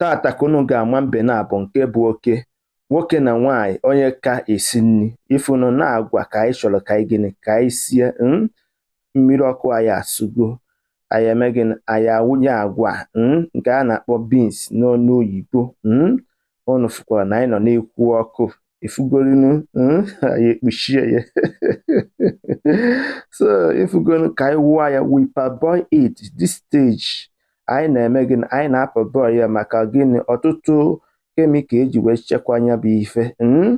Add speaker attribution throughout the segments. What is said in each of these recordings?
Speaker 1: Tata ka unu ga-ama mbe n'abụọ nke bụ oke nwoke na nwaanyị onye ka esi nri ị fụnụ na agwa ka anyị chọrọ ka anyị gịnị ka anyị sie hmm? mmiri ọkụ anyị asụgo anyị eme gịnị anyị awụnye agwa hmm? nke a na-akpọ beans n'ọnụ oyibo hmm? unu fụkwara na anyị nọ n'ekwu ọkụ ị fụgorịnụ anyị ekpuchie ya so ị fụgonụ ka anyị wụọ ya we parboil it this stage anyị na-eme gịnị anyị na-aparboil ya maka gịnị ọtụtụ chemical eji wee chekwaa ya bụ ife hmm?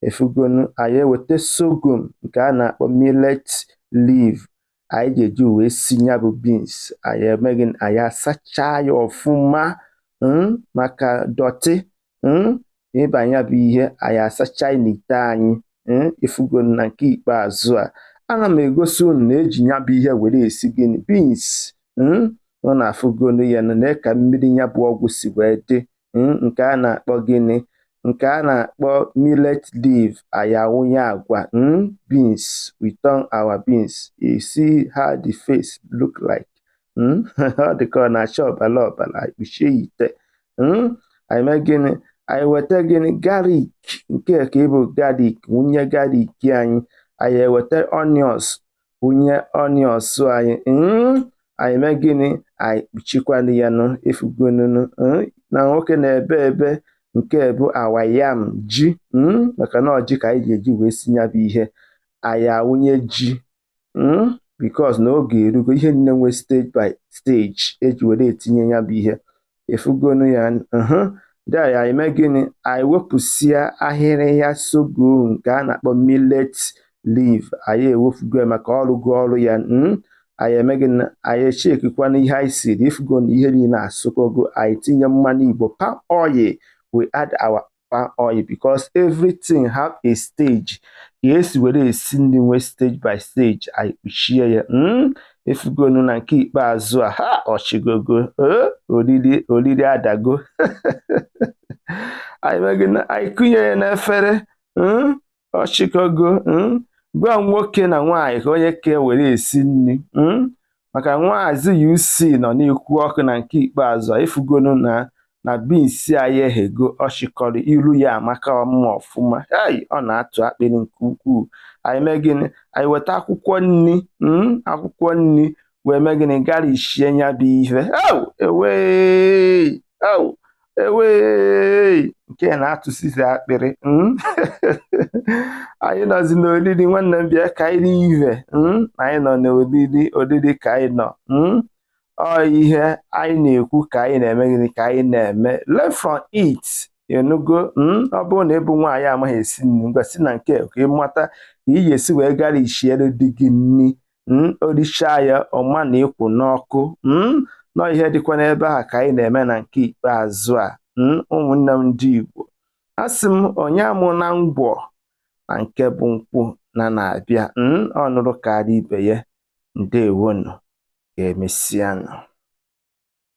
Speaker 1: ị fụgonụ anyị eweta sorghum nke a na-akpọ millet leaf anyị ga-eji wee si ya bụ beans anyị eme gịnị anyị asachaa ya ọfụma hmm? maka dọtị hmm? ịba ya bụ ihe anyị asacha n'ite anyị ị fụgonụ na nke ikpeazụ a ana m egosi unu na eji ya bụ ihe were esi gịnị beans unu afụgonụ ya na ka mmiri ya bụ ọgwụ si wee dị um nke a na-akpọ gịnị, nke a na-akpọ millet leaf, anyị awụnye agwa, um beans, we turn our beans, you see how the face look like. um Ọ dị ka ọ na-acha ọbara ọbara, anyị kpuchie ya ite. um Anyị mee gịnị? Anyị weta gịnị? Garlic. Nke a ka ịbụ garlic, wụnye garlic anyị. Anyị eweta onions, wụnye onions anyị mm, anyị mee gịnị anyị kpuchikwanụ ya nụ ị fụgonụnụ mm, na nwoke na-ebe ebe nke bụ our yam ji mm, maka na ọ ji ka anyị ji eji wee si ya bụ ihe anyị awụnye ji because na oge erugo ihe nine nwe stage by stage eji were etinye ya bụ ihe ị fụgonụ ya nụ then anyị eme gịnị anyị wepụsịa ahịhịa sorghum nke a na-akpọ millet leaf anyị ewefugo ya maka ọ rụgo ọrụ ya hmm? anyị eme gịnị anyị echekikwana ihe anyị siri ị fụgo na ihe niile asụkọgo anyị tinye mmanụ igbo palm oil we add our palm oil because everything have a stage ka esi were esi nri nwee stage by stage anyị kpuchie ya hmm? ị fụgonụ na nke ikpeazụ a ha ọ chịkọgo eh? oriri oriri adago anyị kunye ya n'efere hmm? ọ chịkọgo hmm? ngwa nwoke na nwaanyị ka onye ka were esi nri hmm? maka Maazị UC nọ n'ekwu ọkụ na nke ikpeazụ ị fụgonụ na na beans anyị eghego ọ chịkọrọ iru ya amaka mma ọfụma ei ọ na-atụ akpịrị nke ukwuu anyị mee gịnị anyị weta akwụkwọ nri hmm? akwụkwọ nri wee mee gịnị garnishie ya bụ ihe ewee e wee nke na-atụsizi akpịrị hmm? anyị nọzi n'olili nwanne m bịa ka anyị lie ihe hmm? anyị nọ n'olili olili ka anyị nọ hmm? ọ ihe anyị na-ekwu ka anyị na-eme gịnị ka anyị na-eme learn from it ị nụgo ọ bụrụ na ị bụ nwaanyị amaghị esi nri ngwa si na nke ka ị mata ka ị ga-esi wee gara isiere di gị nri mm, o richa ya ọ ma na ị kwụ n'ọkụ mm, na ọ ihe dịkwa n'ebe a ka anyị na-eme na nke ikpeazụ a mm, ụmụnne m ndị Igbo a sị m onye aṅụna ngwọ na nke bụ nkwụ na na-abịa ọ ṅụrụ karịa ibe ya ndewonu ka emesianụ